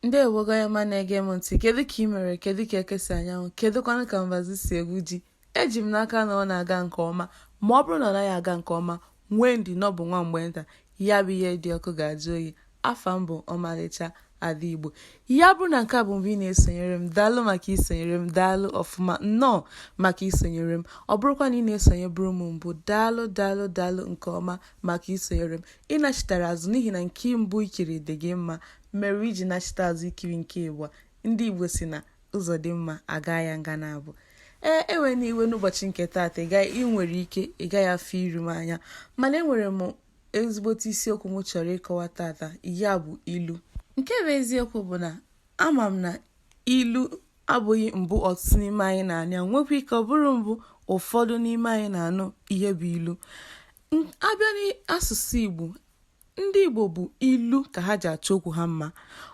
Ndeewo onye ọma na-ege m ntị kedu ka ị mere kedu ka eke si anya anwụ kedụkwanụ ka mbazi si egwu ji eji m n'aka na ọ na-aga nke ọma ma ọ bụrụ na ọ naghị aga nke ọma nwee ndidi na ọ bụ nwa mgbe nta ya bụ ihe dị ọkụ ga-ajụ oyi afa m bụ ọmalịcha ada igbo ya bụrụ na nke a bụ mbụ ị na-esonyere m daalụ maka isonyere m daalụ ọfụma nnọọ maka isonyere m ọ bụrụkwa na ị na-esonyeburu m mbụ daalụ daalụ daalụ nke ọma maka isonyere m ị nachitara azụ n'ihi na nke mbụ i kiri dị gị mma Mere i ji nachite azụ ikiri nke ịbụọ, ndị Igbo sị na ụzọ dị mma a gaa ya nga naabọ ee ewena iwe n'ụbọchị nke taata ị gaghị ị nwere ike ị gaghị afụ iru m anya mana enwere m ezigbote isiokwu m chọrọ ịkọwa taata ya bụ ilu nke bụ eziokwu bụ na ama m na ilu abụghị mbụ ọtụtụ n'ime anyị na-anụ ya nwekwa ike ọ bụrụ mbụ ụfọdụ n'ime anyị na-anụ ihe bụ ilu a bịa n'asụsụ Igbo Ndị Igbo bụ ilu ka ha ji achọ okwu ha mma.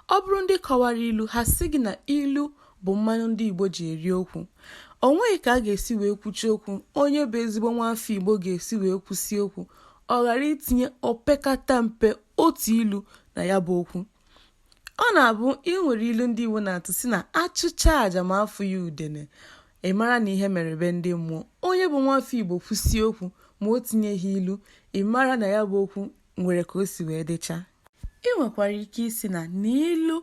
Ọ bụrụ ndị kọwara ilu, ha sị gị na ilu bụ mmanụ ndị Igbo ji eri okwu. O nweghị ka a ga-esi wee kwuchie okwu onye bụ ezigbo nwaafọ Igbo ga-esi wee kwusie okwu ọ ghara itinye opekata mpe otu ilu na ya bụ okwu. Ọ na-abụ e nwere ilu ndị Igbo na-atụ si na a chụchaa aja ma afụghị udene, ị mara na ihe mere be ndị mmụọ. Onye bụ nwafọ Igbo kwusie okwu ma o tinyeghị ilu, ị mara na ya bụ okwu nwere ka o si wee dịcha. Ị nwekwara ike ịsị na na ilu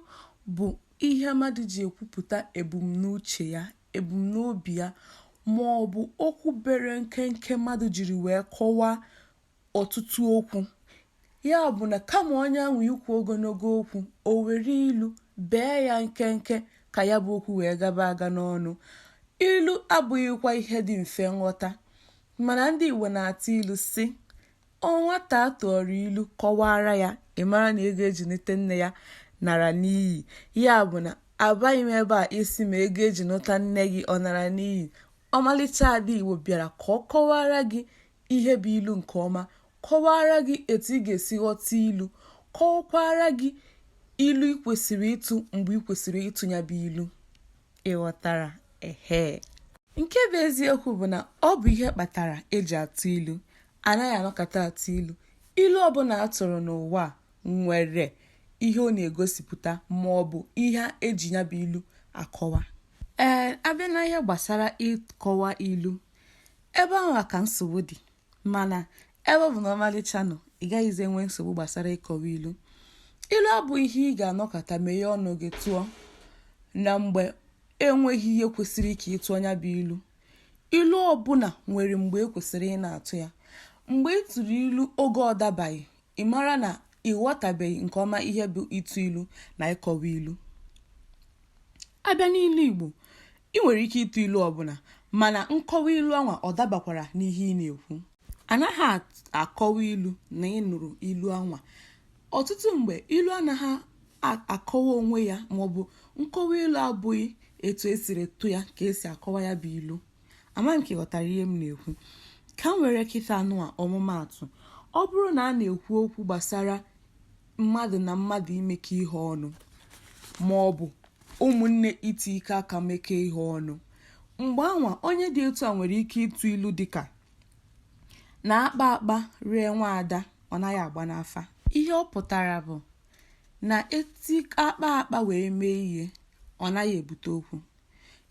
bụ ihe mmadụ ji ekwupụta ebumnuche ya, ebumnobi ya ma ọ bụ okwu bere nkenke mmadụ jiri wee kọwaa ọtụtụ okwu. Ya bụ na kama onye ahụ ikwu ogologo okwu, o were ilu bee ya nkenke ka ya bụ okwu wee gaba aga n'ọnụ. Ilu abụghịkwa ihe dị mfe nghọta, mana ndị Igbo na-atụ ilu sị, nwata a tụọrọ ilu kọwaara ya, ị mara na ego eji nụta nne ya nara n'iyi. Ya bụ na abịaghị m ebe a ịsị ma ego eji nụta nne gị ọ nara n'iyi. Ọmalịcha ada Igbo bịara ka ọ kọwaara gị ihe bụ ilu nke ọma, kọwaara gị etu ị ga-esi ghọta ilu, kọwakwaara gị ilu ị kwesịrị ịtụ mgbe ị kwesịrị ịtụ ya bụ ilu. Ị ghọtara? Ehe. Nke bụ eziokwu bụ na ọ bụ ihe kpatara eji atụ ilu. Anaghị anọkata atụ ilu. Ilu ọbụla a tụrụ n'ụwa a nwere ihe ọ na-egosipụta ma ọ bụ ihe eji ya bụ ilu akọwa. Ee, a bịa n'ihe gbasara ịkọwa ilu, ebe ahụ ka nsogbu dị mana ebe ọ bụ na ọmalịcha nọ ị gaghịzi enwe nsogbu gbasara ịkọwa ilu ilu abụghị ihe ị ga-anọkata meghe ọnụ gị tụọ na mgbe enweghị ihe kwesịrị ka ị tụọ ya bụ ilu ilu ọbụla nwere mgbe ekwesịrị ị na-atụ ya mgbe ị tụrụ ilu oge ọ dabaghị ị mara na ị ghọtabeghị nke ọma ihe bụ ịtụ ilu na ịkọwa ilu abịa n'ilu igbo I nwere ike ịtụ ilu ọbụla, mana nkọwa ilu anwa ọ dabakwara n'ihe ị na-ekwu? A naghị akọwa ilu na ị nụrụ ilu anwa. Ọtụtụ mgbe, ilu anaghị akọwa onwe ya maọbụ nkọwa ilu abụghị etu e siri tụ ya ka e si akọwa ya bụ ilu. Amaghị m ka ị ghọtara ihe m na-ekwu. Ka m were kịta nụwa ọmụmaatụ. Ọ bụrụ na a na-ekwu okwu gbasara mmadụ na mmadụ imekọ ihe ọnụ ma ọ bụ ụmụnne itikọ aka mekọọ ihe ọnụ mgbe anwa onye dị etu a nwere ike ịtụ ilu dịka na akpaa akpaa ree nwaada ọ naghị agba n'afa ihe ọ pụtara bụ na eti akpaa akpaa wee mee ihe ọ naghị ebute okwu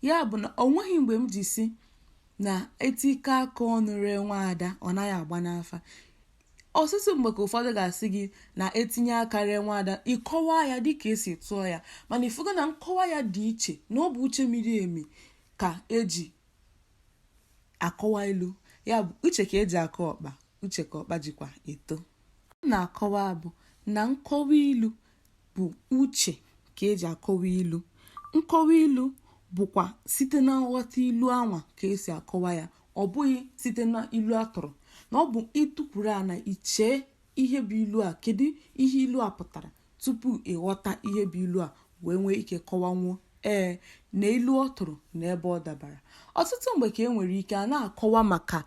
ya bụ na o nweghị mgbe m ji sị na etikọọ aka ọnụ ree nwaada ọ naghị agba n'afa Ọtụtụ mgbe ka ụfọdụ ga-asị gị na etinye aka ree nwaada, ị kọwaa ya dịka esi tụọ ya, mana ifugo na nkọwa ya dị iche, na ọ bụ uche miri emi ka eji akọwa ilu. Ya bụ, uche ka eji akọ ọkpa, uche ka ọkpa jikwa eto. M na-akọwa bụ na nkọwa ilu bụ uche ka eji akọwa ilu nkọwa ilu bụkwa site na nghọta ilu anwa ka esi akọwa ya ọ bụghị site na ilu atụrụ na ọ bụ itukwuru ana chee ihe bụ ilu a kedu ihe ilu a pụtara tupu ịghọta ihe bụ ilu a wee nwee ike kọwanwuo ee na ilu ọ tụrụ na ebe ọ dabara ọtụtụ mgbe ka e nwere ike a na-akọwa maka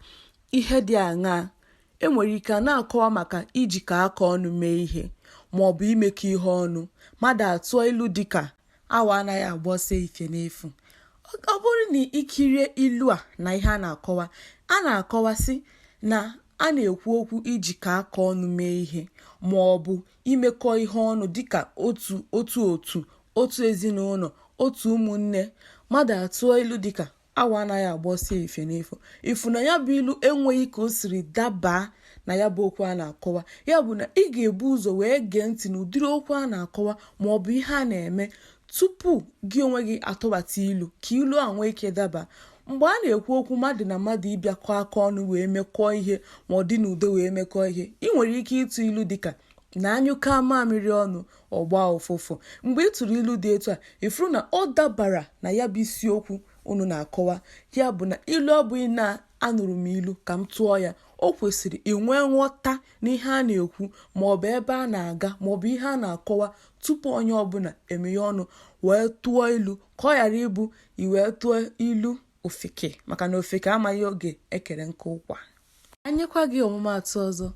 ihe dị aṅaa E nwere ike a na-akọwa maka ijikọ aka ọnụ mee ihe ma ọ bụ imekọ ihe ọnụ. Mmadụ atụọ ilu dị ka awọ anaghị agba ọsọ efifie n'efu. Ọ bụrụ na ị kirie ilu a na ihe a na-akọwa, a na-akọwa sị na a na-ekwu okwu ijikọ aka ọnụ mee ihe ma ọ bụ imekọ ihe ọnụ dịka otu otu otu ezinụlọ otu ụmụnne mmadụ atụọ ilu dịka awọ anaghị agba ọsọ efifie n'efu ifu na ya bụ ilu enweghị ka o siri dabaa na ya bụ okwu a na-akọwa ya bụ na ị ga-ebu ụzọ wee gee ntị na ụdịrị okwu a na-akọwa ma ọ bụ ihe a na-eme tupu gị onwe gị atụbata ilu ka ilu a nwee ike daba mgbe a na-ekwu okwu mmadụ na mmadụ ịbịakọ aka ọnụ wee mekọọ ihe ma ọ dị n'udo wee mekọọ ihe ị nwere ike ịtụ ilu dịka na anyụkọọ mamịrị ọnụ Ọ gbaa ụfụfụ. Mgbe ị tụrụ ilu dị etu a, ị fụrụ na ọ dabara na ya bụ isiokwu unu na-akọwa. Ya bụ na ilu abụghị na anụrụ m ilu ka m tụọ ya. O kwesịrị inwe nghọta n'ihe a na-ekwu maọbụ ebe a na-aga maọbụ ihe a na-akọwa tupu onye ọbụla emeghe ọnụ wee tụọ ilu ka ọ ghara ịbụ i wee tụọ ilu ofeke maka na ofeke amaghị oge e kere nkụ ụkwa ka m nyekwa gị ọmụmaatụ ọzọ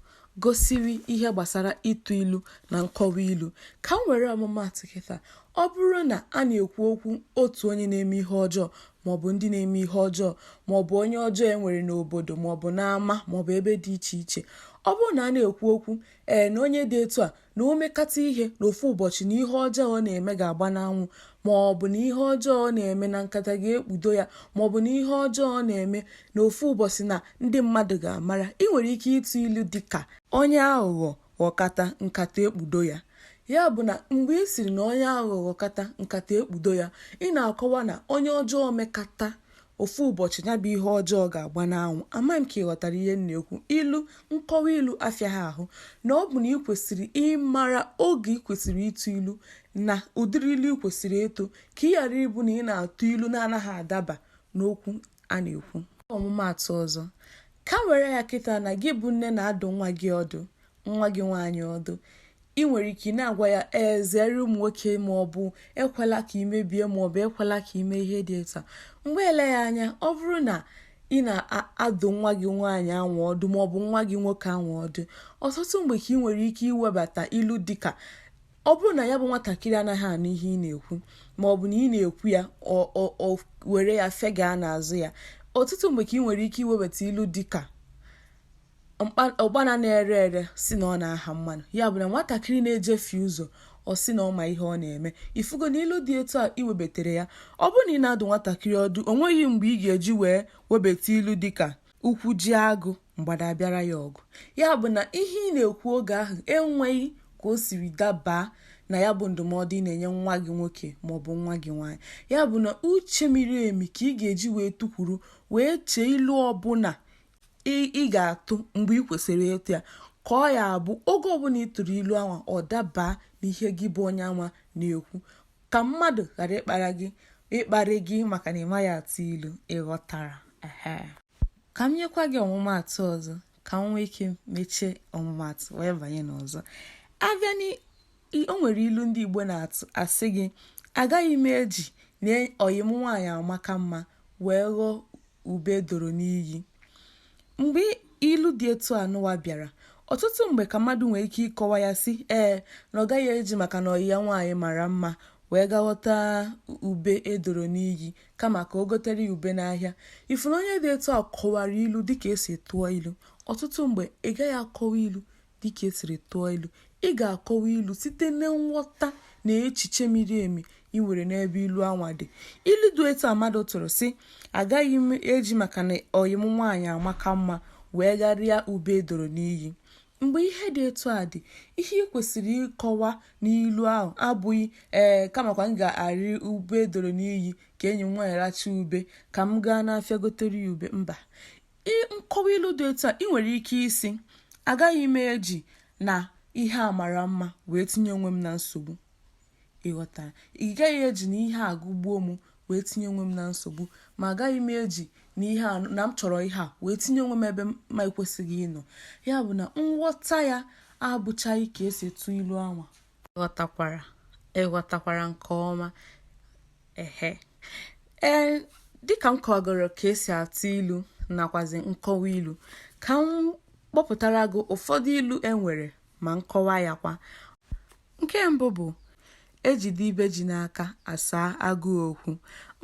gosiri ihe gbasara ịtụ ilu na nkọwa ilu ka m were ọmụmaatụ kịta ọ bụrụ na a na-ekwu okwu otu onye na-eme ihe ọjọọ maọbụ ndị na-eme ihe ọjọọ maọbụ onye ọjọọ e nwere n'obodo maọbụ n'ama maọbụ ebe dị iche iche ọ bụrụ na a na-ekwu okwu ee na onye dị etu a na o mekata ihe n'ofu ụbọchị na ihe ọjọọ ọ na-eme ga-agba n'anwụ ma ọ bụ na ihe ọjọọ ọ na-eme na nkata ga-ekpudo ya ma ọ bụ na ihe ọjọọ ọ na-eme n'ofu ụbọchị na ndị mmadụ ga-amara ị nwere ike ịtụ ilu dị ka onye aghụghọ ghọkata nkata ekpudo ya ya bụ na mgbe ị sịrị na onye aghụghọ ghọkata nkata ekpudo ya ị na-akọwa na onye ọjọọ mekata Ofu ụbọchị, ya bụ ihe ọjọọ ga-agba n'anwụ. Amaghị m ka ị ghọtara ihe m na-ekwu. Ilu, nkọwa ilu afịaghị ahụ. Na ọ bụ na i kwesịrị ịmara oge i kwesịrị ịtụ ilu na ụdịrị ilu i kwesịrị ịtụ ka ị ghara ịbụ na ị na-atụ ilu na-anaghị adaba n'okwu a na-ekwu. Ọmụmaatụ ọzọ. Ka m were ya kịta na gị bụ nne na-adụ nwa gị ọdụ nwa gị nwaanyị ọdụ ị nwere ike ị na-agwa ya ee zere ụmụ nwoke ma ọ bụ ekwela ka ị mebie ma ọ bụ ekwela ka ị mee ihe dị etu a mgbe eleghị anya ọ bụrụ na ị na-adụ nwa gị nwaanyị anwụ ọdụ ma ọ bụ nwa gị nwoke anwụ ọdụ ọtụtụ mgbe ka ị nwere ike iwebata ilu dịka ọ bụrụ na ya bụ nwatakịrị anaghị anụ ihe ị na-ekwu ma ọ bụ na ị na-ekwu ya o were ya fega n'azụ ya ọtụtụ mgbe ka ị nwere ike iwebata ilu dịka ụkpana na-ere ere sị na ọ na-aha mmanụ ya bụ na nwatakịrị na-ejefie ụzọ ọ sị na ọ ma ihe ọ na-eme ị fụgo na ilu dị etu a i webetere ya ọ bụrụ na ị na-adụ nwatakịrị ọdụ o nweghị mgbe ị ga-eji wee webata ilu dịka ụkwụ jie agụ mgbada abịara ya ọgụ ya bụ na ihe ị na-ekwu oge ahụ enweghị ka o siri dabaa na ya bụ ndụmọdụ ị na-enye nwa gị nwoke maọbụ nwa gị nwaanyị ya bụ na uche miri emi ka ị ga-eji wee tukwuru wee chee ilu ọbụla ị ga-atụ mgbe ị kwesịrị ịtụ ya ka ọ ya-abụ oge ọbụla ị tụrụ ilu anwa ọ dabaa n'ihe gị bụ onye anwa na-ekwu ka mmadụ ghara ịkpara gị ịkparị gị maka na ị maghị atụ ilu ị ghọtara ka m nyekwa gị ọmụmaatụ ọzọ ka m nwee ike mechie ọmụmaatụ wee banye n'ọzọ abịa O nwere ilu ndị Igbo na-atụ asị gị agaghị m eji na ọyị m nwaanyị amaka mma wee ghọọ ube doro n'iyi. Mgbe ilu dị etu a nụwa bịara, ọtụtụ mgbe ka mmadụ nwee ike ịkọwa ya sị ee na ọ gaghị eji maka na ọyị ya nwaanyị mara mma wee gaa ghọta ube e doro n'iyi kama ka o gotere ya ube n'ahịa. Ị fụ na onye dị etu a kọwara ilu dịka e si tụọ ilu. Ọtụtụ mgbe ị gaghị akọwa ilu Dịka e siri tụọ ilu, ị ga-akọwa ilu site na nghọta na echiche miri emi i nwere n'ebe ilu anwa dị. Ilu dị etu a mmadụ tụrụ sị, agaghị m eji maka na ọyị m nwaanyị amaka mma wee gaa rịa ube e doro n'iyi. Mgbe ihe dị etu a dị, ihe i kwesịrị ịkọwa n'ilu ahụ abụghị ee kamakwa m ga-arị ube e doro n'iyi ka enyi m nwaanyị rachaa ube ka m gaa n'afịa gotere ya ube. Mba. Nkọwa ilu dị etu a, ị nwere ike ịsị, agaghị m eji na ihe a mara mma wee tinye onwe m na nsogbu. Ị ghọtara? Ị gaghị eji na ihe a gụgbuo m wee tinye onwe m na nsogbu, ma agaghị m eji na ihe a na m chọrọ ihe a wee tinye onwe m ebe m ma ekwesịghị ịnọ. Ya bụ na nghọta ya abụchaghị ka e si tụọ ilu anwa. Ị ghọtakwara nke ọma? ehe ee dịka m kọgoro ka e si atụ ilu nakwazi nkọwa ilu ka m kpọpụtara gị ụfọdụ ilu e nwere ma nkọwa ya kwa nke mbụ bụ e jide ibe ji n'aka a saa agụụ okwu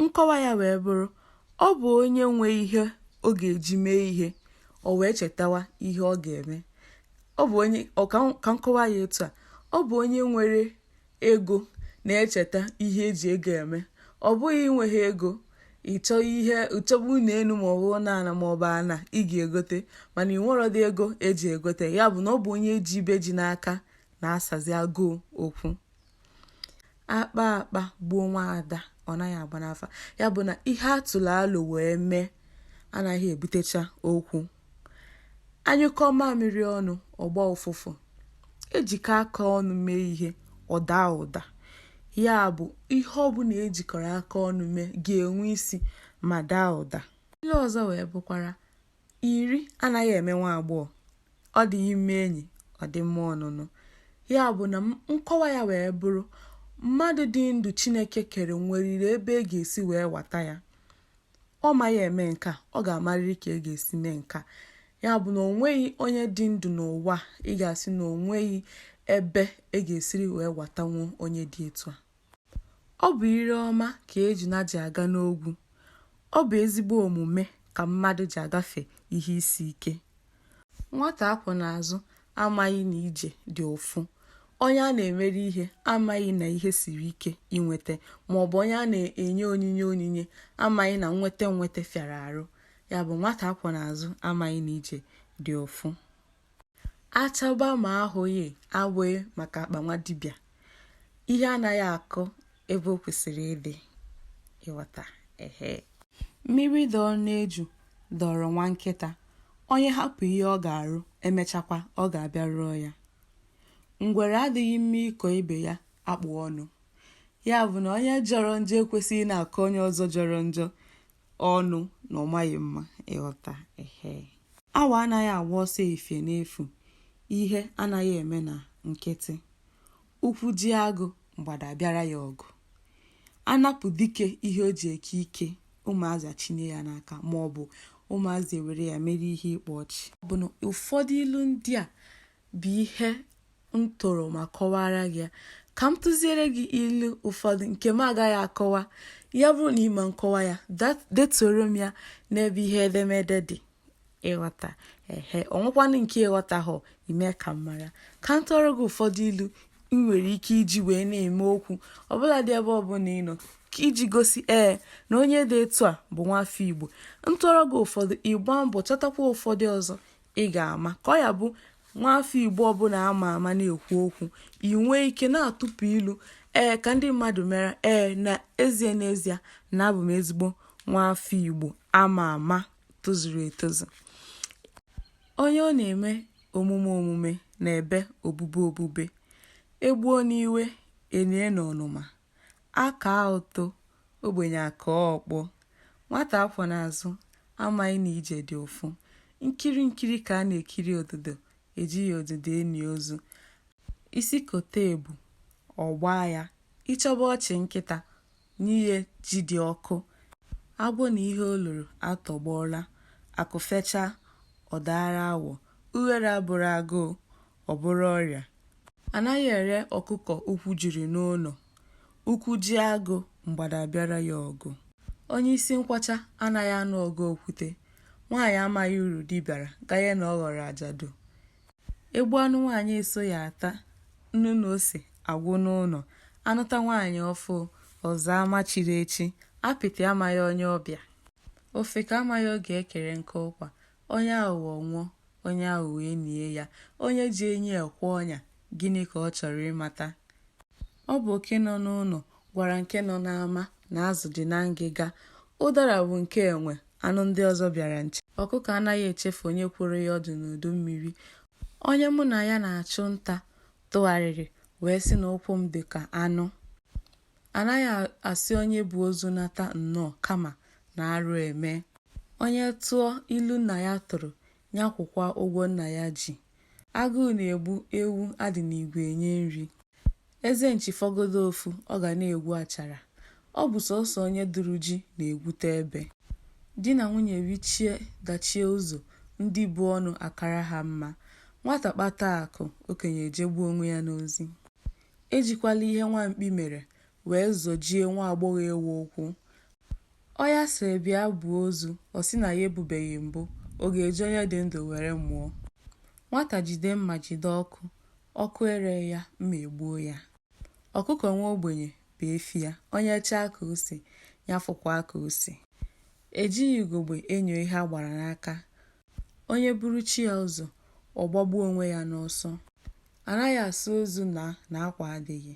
nkọwa ya wee bụrụ ọ bụ onye nwee ihe ọ ga-eji mee ihe o wee chetawa ihe ọ ga-eme ọ bụ onye ka m kọwaa ya etu a ọ bụ onye nwere Ego na-echeta ihe e ji ego eme. Ọ bụghị i nweghị ego, ị chọba ụnọ enu maọbụ ụlọ ala maọbụ ana ị ga-egote mana ị nwerọdị ego e ji egote ya. Ya bụ na ọ bụ onye ji ibe ji n'aka na-asazi agụụ okwu. A kpaa akpa gbuo nwaada, ọ naghị agba n'afa. Ya bụ na ihe a tụrụ alo wee mee anaghị ebutecha okwu. A nyụkọọ mamịrị ọnụ, ọ gbaa ụfụfụ. E jikọọ aka ọnụ mee ihe, ọ daa ụda. Ya bụ, ihe ọ bụla e jikọrọ aka ọnụ mee ga-enwe isi ma daa ụda. Ilu ọzọ wee bụkwara, Iri anaghị eme nwa agbọghọ. Ọ dịghị mma enyi, ọ dị mma ọnụnụ. Ya bụ na nkọwa ya wee bụrụ, mmadụ dị ndụ Chineke kere nweriri ebe e ga-esi wee wata ya. Ọ maghị eme nke a, ọ ga-amarịrị ka e ga-esi mee nke a. Ya bụ na o nweghị onye dị ndụ n'ụwa ị ga-asị na o nweghị ebe e ga-esiri wee watanwu onye dị etu a. Ọ bụ ire ọma ka ejuna ji aga n'ogwu. Ọ bụ ezigbo omume ka mmadụ ji agafe ihe isi ike. Nwata akwọ n'azụ amaghị na ije dị ụfụ. Onye a na-emere ihe amaghị na ihe siri ike inweta maọbụ onye a na-enye onyinye onyinye amaghị na nweta nweta fịara arụ. Ya bụ nwata akwọ n'azụ amaghị na ije dị ụfụ. Achọba ma ahụghị abụghị maka akpa nwa dibịa. Ihe anaghị akọ ebe o kwesịrị ịdị ịghọta ehe mmiri dọọ n'eju dọọrọ nwa nkịta onye hapụ ihe ọ ga-arụ emechakwa ọ ga-abịa rụọ ya ngwere adịghị mma ịkọ ibe ya akpụ ọnụ ya bụ na onye jọrọ njọ ekwesịghị na-akọ onye ọzọ jọrọ njọ ọnụ na ọ maghị mma ịghọta ehe awọ anaghị agba ọsọ efie n'efu ihe anaghị eme na nkịtị Ụkwụ jie agụ, mgbada abịara ya ọgụ. Anapụ dike ihe o ji eke ike, ụmụazị achinye ya n'aka ma ọ bụ ụmụazị ewere ya mere ihe ịkpa ọchị. Ọ bụ na ụfọdụ ilu ndị a bụ ihe m tụrụ ma kọwaara gị ya. Ka m tụziere gị ilu ụfọdụ nke m agaghị akọwa. Ya bụrụ na ị ma nkọwa ya, detuoro m ya n'ebe ihe edemede dị. ịghọta ehe o nwekwanụ nke ị ghọtahụ i mee ka m mara ka m tụọrọ gị ụfọdụ ilu ị nwere ike iji wee na-eme okwu ọbụla dị ebe ọbụla ị nọ ka iji gosi ee na onye dị etu a bụ nwafọ igbo m tụọrọ gị ụfọdụ ị gbaa mbọ chọtakwa ụfọdụ ọzọ ị ga-ama ka ọ ya-abụ nwafọ igbo ọbụla ama ama na-ekwu okwu ị nwee ike na-atụpụ ilu ee ka ndị mmadụ mara ee n'ezie n'ezie na abụ m ezigbo nwafọ igbo ama ama tozuru etozu onye ọ na-eme omume omume na-ebe obube obube egbuo n'iwe enie n'ọnụma aka ụtọ ogbenye aka ọkpọ nwata akwọ n'azụ amaghị na ije dị ụfụ nkiri nkiri ka a na-ekiri ododo ejighị ododo eni ozu isi kote ebu ọ gbaa ya ị chọba ọchị nkịta Nye ya ji dị ọkụ, agwọ na ihe o loro atọgbọọla, akụ fechaa, ọ daara awọ, ughere abụrọ agụụ, ọ bụrụ ọrịa. A naghị ere ọkụkọ ụkwụ jiri n'ụlọ, ụkwụ jie agụ, mgbada abịara ya ọgụ. Onye isi nkwọcha anaghị anụ ọgụ okwute, nwaanyị amaghị uru di baara ganye na ọ ghọrọ ajadu. egbuo anụ nwaanyị esoghị ata nnu na ose agwụ n'ụlọ anụta nwaanyị ọfụụ ọ zaa ama chiri echi apịtị amaghị onye ọbịa ofeke amaghị oge ekere nkụ ụkwa onye aghụghọ nwụọ onye aghụghọ enie ya onye ji enyi ekwe ọnya gịnị ka ọ chọrọ ịmata Ọ bụ oke nọ n'ụlọ gwara nke nọ n'ama na azụ dị na ngịga. Ụdara bụ nke enwe, anụ ndị ọzọ bịara nche. Ọkụkọ anaghị echefu onye kworo ya ọdụ n'udu mmiri. Onye mụ na ya na-achụ nta tụgharịrị wee sị na ụkwụ m dị ka anụ. Anaghị asị onye bu ozu nata nnọọ kama na arụ eme. Onye tụọ ilu nna ya tụrụ, nya kwụkwa ụgwọ nna ya ji. Agụụ na-egbu ewu a dị n'igwe enye nri. Eze nchi fọgodu ofu, ọ ga na-egwu achara. Ọ bụ sọsọ onye duru ji na-egwute ebe. Di na nwunye richie dachie ụzọ, ndị bu ọnụ akara ha mma. Nwata kpata akụ, okenye ejegbuo onwe ya n'ozi. Ejikwala ihe nwa mkpi mere wee zọjie nwa agbọghọ ewu ụkwụ. Onye a sịrị bịa buo ozu, ọ sị na ya ebubeghị mbụ, ọ ga-eji onye dị ndụ were mụọ. Nwata jide mma jide ọkụ, ọkụ ere ya, mma egbuo ya. Ọkụkọ nwa ogbenye bụ efi ya, onye chaa ka ose, ya fụkwaa ka ose. E jighị ugogbe enyo ihe a gbara n'aka, Onye buru chi ya ụzọ, ọ gbagbuo onwe ya n'ọsọ. Anaghị asị ozu na akwa adịghị.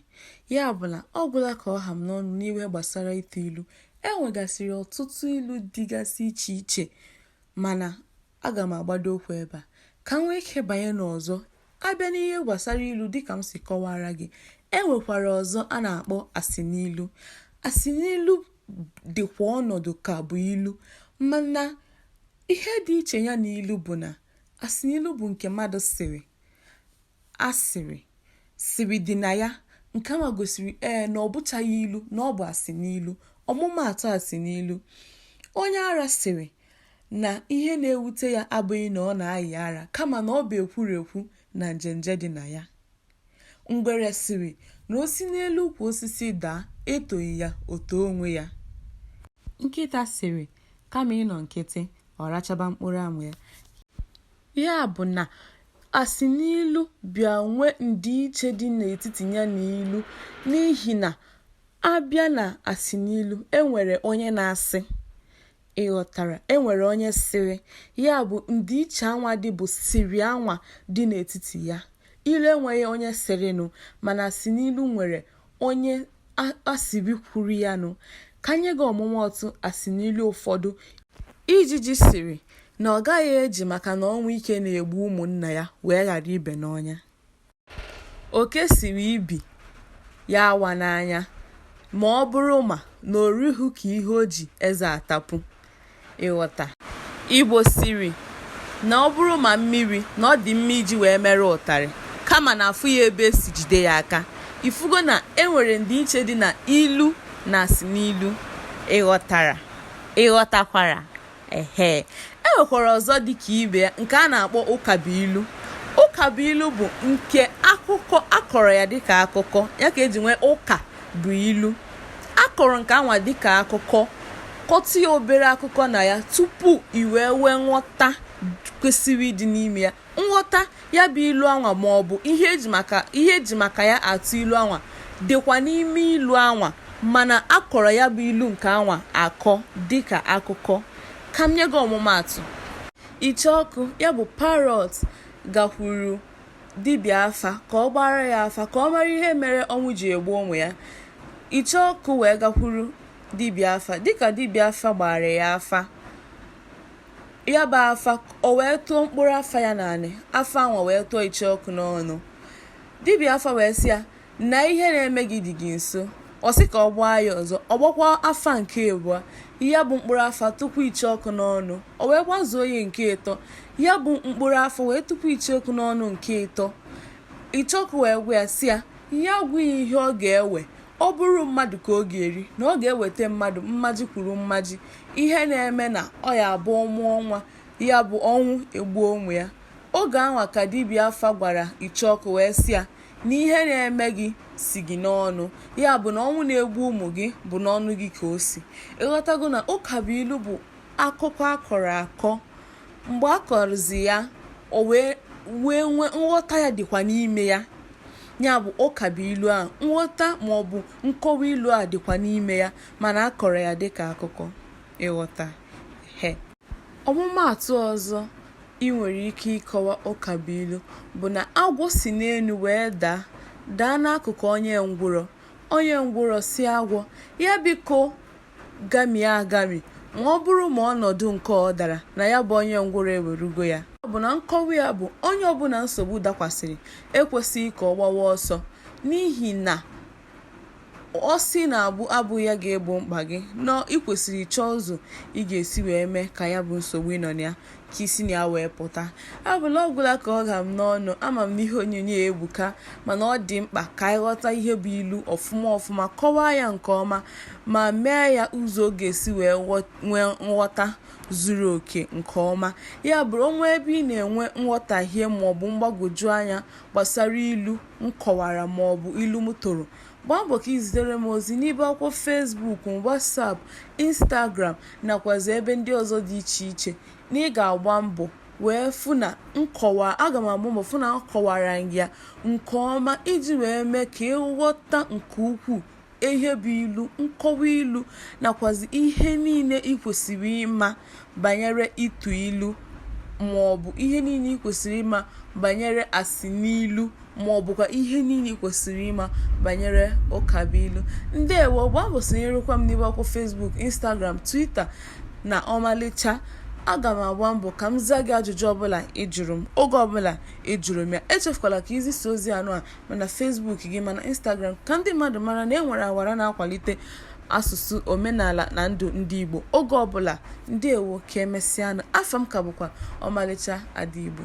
Ya bụ na ọ gwụla ka ọ ha m n'ọnụ n'ihe gbasara ịtụ ilu. E nwegasịrị ọtụtụ ilu dịgasị iche iche mana aga m agbado okwu ebe a. Ka m nwee ike banye n'ọzọ, a bịa n'ihe gbasara ilu dịka m si kọwaara gị, e nwekwara ọzọ a na-akpọ asịnilu. Asịnilu dịkwa ọnọdụ ka bụ ilu mana Ihe dị iche ya na ilu bụ na asinilu bụ nke mmadụ sịrị, a sịrị, sịrị dị na ya, nke anwa gosiri ee na ọ bụchaghị ilu, na ọ bụ asinilu. Ọmụmaatụ asinilu, Onye ara sịrị na ihe na-ewute ya abụghị na ọ na-ayị ara kama na ọ bụ ekwurekwu na njenje dị na ya. Ngwere sịrị na o si n'elu ukwu osisi daa etoghị ya o too onwe ya. Nkịta sịrị kama ịnọ nkịtị ọ rachaba mkpụrụ amụ ya. Ya bụ na asịnilu bịa nwee ndịiche dị n'etiti ya na ilu n'ihi na a bịa na asịnilu, e nwere onye na-asị Ị ghọtara? E nwere onye sịrị, ya bụ, ndịiche anwa dị bụ sịrị anwa dị n'etiti ya. Ilu enweghị onye sịrịnụ, mana asịnilu nwere onye a sịrị kwuru ya nụ. Ka m nye gị ọmụmaatụ asinilu ụfọdụ. Ijiji sịrị na ọ gaghị eji maka na ọnwụ ike na-egbu ụmụnna ya wee ghara ibe n'ọnya. Oke sịrị ibi ya awa n'anya ma ọ bụrụ ma na o righị ka ihe o ji eze atapu. Ịghọta. Igbo sịrị na ọ bụrụ maamịrị na ọ dị mma iji wee mere ụtarị kama na afụghị ebe e si jide ya aka. Ifugo na e nwere ndịiche dị na ilu na asịnilu. Ị ghọtara? Ị ghọtakwara? Ehe, e nwekwara ọzọ dị ka ibe ya nke a na-akpọ ụkabụilu. Ụkabụilu bụ nke akụkọ a kọrọ ya dịka akụkọ ya ka e ji nwee ụka bụ ilu. A kọrọ nke anwa dịka akụkọ kọtụ ya obere akụkọ na ya tupu i wee nwee nghọta kwesịrị ịdị n'ime ya. Nghọta ya bụ ilu anwa maọbụ ihe e ji maka ihe e ji maka ya atụ ilu anwa dịkwa n'ime ilu anwa mana a kọrọ ya bụ ilu nke anwa akọ dịka akụkọ. Ka m nye gị ọmụmaatụ. Icheọkụ, ya bụ parrot, gakwuru dibịa afa ka ọ gbaara ya afa ka ọ mara ihe mere ọnwụ ji egbu ụmụ ya. Icheọkụ wee gakwuru dibịa afa. Dịka dibịa afa gbaara ya afa, ya bụ afa o wee tụọ mkpụrụ afa ya n'anị afa anwa wee tụọ icheọkụ n'ọnụ dibịa afa wee sị ya na ihe na-eme gị dị gị nso ọ sị ka ọ gbaa ya ọzọ ọ gbakwa afa nke abụọ ya bụ mkpụrụ afa tụpụ icheọkụ n'ọnụ o wee gbazuo ya nke ịtọ ya bụ mkpụrụ afa wee tụpụ icheọkụ n'ọnụ nke ịtọ icheọkụ wee gwa ya sị ya ya gwa ya ihe ọ ga-ewe ọ bụrụ mmadụ ka ọ ga-eri na ọ ga-eweta mmadụ mmaji kwuru mmaji ihe na-eme na ọ ya-abụ ọ mụọ nwa ya bụ ọnwụ egbuo ụmụ ya oge anwa ka dibịa afa gwara icheọkụ wee sị ya na ihe na-eme gị si gị n'ọnụ ya bụ na ọnwụ na-egbu ụmụ gị bụ n'ọnụ gị ka o si ị ghọtago na ụka bụ ilu bụ akụkọ a kọrọ akọ mgbe a kọrọzi ya o wee wee nwee nghọta ya dịkwa n'ime ya ya bụ ụka bụ ilu a nghọta maọbụ nkọwa ilu a dịkwa n'ime ya Mana a kọrọ ya dịka akụkọ, ịghọta. He. Ọmụmaatụ ọzọ i nwere ike ịkọwa ụkabụilu bụ na agwọ si n'elu wee daa, daa n'akụkụ onye ngwụrọ. Onye ngwụrọ sị agwọ ya biko gamie agami ma ọ bụrụ ma ọnọdụ nke ọ dara na ya bụ onye ngwụrọ ewerugo ya. Ya bụ na nkọwa ya bụ onye ọbụla nsogbu dakwasịrị ekwesịghị ka ọ gbawa ọsọ n'ihi na Ọ sị na abụ abụ ya ga-egbo mkpa gị, na ị kwesịrị ịchọ ụzọ ị ga-esi wee mee ka ya bụ nsogbu ị nọ na ya ka i si na ya wee pụta. Ya bụ na ọ gwụla ka ọ ha m n'ọnụ, ama m na ihe onyonyo a ebuka mana ọ dị mkpa ka anyị ghọta ihe bụ ilu ọfụma ọfụma, kọwaa ya nke ọma ma mee ya ụzọ ọ ga-esi wee nwee nghọta zuru oke nke ọma. Ya bụrụ o nwee ebe ị na-enwe nghọtahie maọbụ mgbagwoju anya gbasara ilu, m kọwara ma ọ bụ ilu m tụrụ, gbaa mbọ ka i zitere m ozi n'ibe akwụkwọ Facebook m, WhatsApp, Instagram nakwazị ebe ndị ọzọ dị iche iche na ị ga-agba mbọ wee fụ na m aga m agba mbọ fụ na m kọwara gị ya nke ọma iji wee mee ka ị ghọta nke ukwuu ihe bụ ilu, nkọwa ilu nakwazi ihe niile ị kwesịrị ịma banyere ịtụ ilu ma ọ bụ ihe niile ị kwesịrị ịma banyere asinilu ma ọ bụkwa ihe niile ị kwesịrị ịma banyere ụkabụilu. Ndewo! Gbaa mbọ sonyerekwa m n'ibe akwụkwọ Facebook, Instagram, Twitter na Ọmalịcha aga m agba mbọ ka m zaa gị ajụjụ ọbụla ị jụrụ m oge ọbụla ị jụrụ m ya echefukwala ka i zisaa ozi anụ a ma na Facebook gị ma na Instagram ka ndị mmadụ mara na e nwere awara na-akwalite asụsụ omenala na ndụ ndị Igbo oge ọbụla ndewo ka emesịanụ afa m ka bụkwa Ọmalịcha Ada Igbo